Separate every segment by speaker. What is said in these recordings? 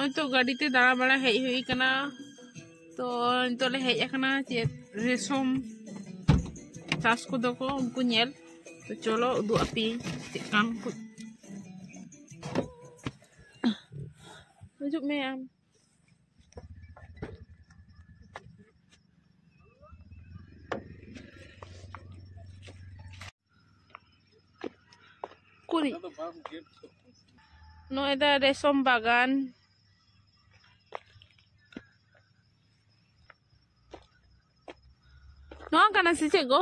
Speaker 1: ᱱᱚᱜᱼᱚᱭ ᱛᱚ ᱜᱟᱹᱰᱤᱛᱮ ᱫᱟᱬᱟ ᱵᱟᱲᱟ ᱦᱮᱡ ᱦᱩᱭ ᱠᱟᱱᱟ ᱛᱚ ᱱᱤᱛᱚᱜ ᱞᱮ ᱦᱮᱡ ᱟᱠᱟᱱᱟ ᱪᱮᱫ ᱨᱮᱥᱚᱢ ᱪᱟᱥ ᱠᱚᱫᱚ ᱠᱚ ᱩᱱᱠᱩ ᱧᱮᱞ ᱛᱚ ᱪᱚᱞᱚ ᱩᱫᱩᱜ ᱟᱯᱮᱭᱟᱹᱧ ᱪᱮᱫ ᱠᱟᱱ ᱠᱚ ᱦᱤᱡᱩᱜ ᱢᱮ ᱟᱢ ᱠᱩᱨᱤᱡ ᱱᱚᱜᱼᱚᱭ ᱫᱚ ᱨᱮᱥᱚᱢ ᱵᱟᱜᱟᱱ ᱱᱚᱣᱟ ᱠᱟᱱᱟ ᱥᱮ ᱪᱮᱫ ᱜᱚ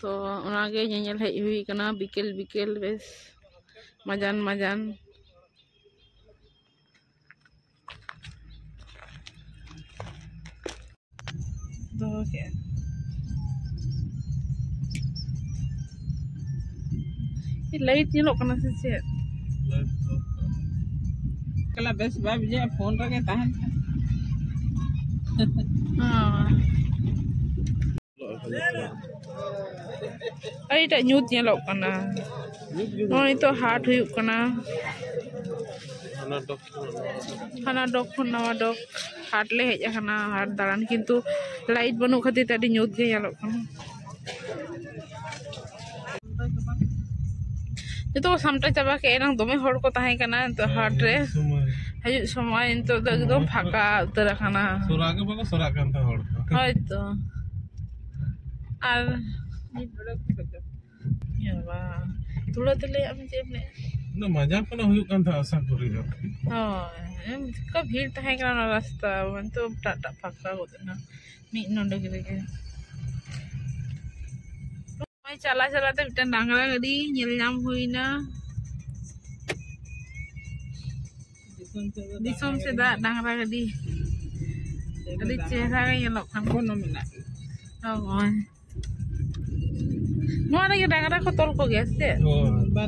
Speaker 1: ᱛᱚ ᱚᱱᱟᱜᱮ ᱧᱮᱧᱮᱞ ᱦᱮᱡ ᱦᱩᱭ ᱠᱟᱱᱟ ᱵᱤᱠᱮᱞ ᱵᱤᱠᱮᱞ ᱵᱮᱥ ᱢᱟᱡᱟᱱ ᱢᱟᱡᱟᱱ
Speaker 2: ᱫᱚᱦᱚ ᱠᱮᱫᱼᱟ
Speaker 1: ᱞᱟᱭᱤᱴ ᱧᱮᱞᱚᱜ ᱠᱟᱱᱟ ᱥᱮ ᱪᱮᱫ
Speaker 2: ᱠᱟᱞᱟ ᱵᱮᱥ ᱵᱟᱭ ᱵᱩᱡᱷᱟᱹᱜᱼᱟ ᱯᱷᱳᱱ ᱨᱮᱜᱮ ᱛᱟᱦᱮᱱ
Speaker 1: ᱟᱹᱰᱤᱴᱟᱜ ᱧᱩᱛ ᱧᱮᱞᱚᱜ ᱠᱟᱱᱟ ᱱᱚᱜᱼᱚᱭ ᱱᱤᱛᱚᱜ ᱦᱟᱴ ᱦᱩᱭᱩᱜ ᱠᱟᱱᱟ ᱦᱟᱱᱟ ᱰᱚᱜᱽ ᱠᱷᱚᱱ ᱱᱟᱣᱟ ᱰᱚᱜᱽ ᱦᱟᱴ ᱞᱮ ᱦᱮᱡ ᱟᱠᱟᱱᱟ ᱦᱟᱴ ᱫᱟᱬᱟᱱ ᱠᱤᱱᱛᱩ ᱞᱟᱭᱤᱴ ᱵᱟᱹᱱᱩᱜ ᱠᱷᱟᱹᱛᱤᱨ ᱛᱮ ᱟᱹᱰᱤ ᱧᱩᱛ ᱜᱮ ᱧᱮᱞᱚᱜ ᱠᱟᱱᱟ ᱡᱚᱛᱚ ᱠᱚ ᱥᱟᱢᱴᱟᱣ ᱪᱟᱵᱟ ᱠᱮᱫ ᱮᱱᱟᱝ ᱫᱚᱢᱮ ᱦᱚᱲ ᱠᱚ ᱛᱟᱦᱮᱸ ᱠᱟᱱᱟ ᱱᱤᱛᱚᱜ ᱦᱟᱴ ᱨᱮ ᱦᱤᱡᱩᱜ ᱥᱚᱢᱚᱭ ᱱᱤᱛᱚᱜ ᱫᱚ ᱮᱠᱫᱚᱢ ᱯᱷᱟᱸᱠᱟ ᱩᱛᱟᱹᱨ ᱟᱠᱟᱱᱟ ᱥᱚᱨᱟ ᱜᱮ ᱵᱟᱠᱚ ᱥᱚᱨᱟᱜ
Speaker 3: ᱠᱟᱱ ᱛᱟᱦᱮᱸ ᱦᱚᱲ ᱦᱳᱭᱛᱚ
Speaker 1: ᱟᱨ ᱛᱷᱚᱲᱟ ᱛᱮ ᱞᱟᱹᱭᱟᱜ ᱢᱮ ᱪᱮᱫ ᱮᱢ ᱞᱟᱹᱭᱮᱫ ᱚᱱᱟ ᱢᱟᱡᱟ
Speaker 3: ᱠᱚᱱᱟ ᱦᱩᱭᱩᱜ ᱠᱟᱱ ᱛᱟᱦᱮᱸᱫ ᱟᱥᱟ ᱠᱚᱨᱮ ᱫᱚ ᱦᱳᱭ
Speaker 1: ᱪᱮᱫᱠᱟ ᱵᱷᱤᱲ ᱛᱟᱦᱮᱸ ᱠᱟᱱᱟ ᱚᱱᱟ ᱨᱟᱥᱛᱟ ᱱᱤᱛᱚᱜ ᱮᱴᱟᱜ ᱮᱴᱟᱜ ᱯᱷᱟᱸᱠᱟ ᱜᱚᱫ ᱮᱱᱟ ᱢᱤᱫ ᱱᱚᱰᱮ ᱨᱮᱜᱮ ᱱᱚᱜᱼᱚᱭ ᱪᱟᱞᱟᱜ ᱪᱟᱞᱟᱜ ᱛᱮ ᱢᱤᱫᱴᱟᱝ ᱰᱟᱝᱨᱟ ᱜᱟᱹᱰᱤ ᱧᱮᱞ ᱧᱟᱢ ᱦᱩᱭᱱᱟ ᱫᱤᱥᱚᱢ ᱥᱮᱫᱟᱜ ᱰᱟᱝᱨᱟ ᱜᱟᱹᱰᱤ ᱟᱹᱰᱤ ᱪᱮᱦᱨᱟ ᱜᱮ ᱧᱮᱞᱚᱜ ᱠᱟᱱᱟ
Speaker 2: ᱦᱳᱭ
Speaker 1: ᱱᱚᱣᱟ ᱨᱮᱜᱮ ᱰᱟᱝᱨᱟ ᱠᱚ ᱛᱚᱞ ᱠᱚᱜᱮᱭᱟ ᱥᱮ ᱪᱮᱫ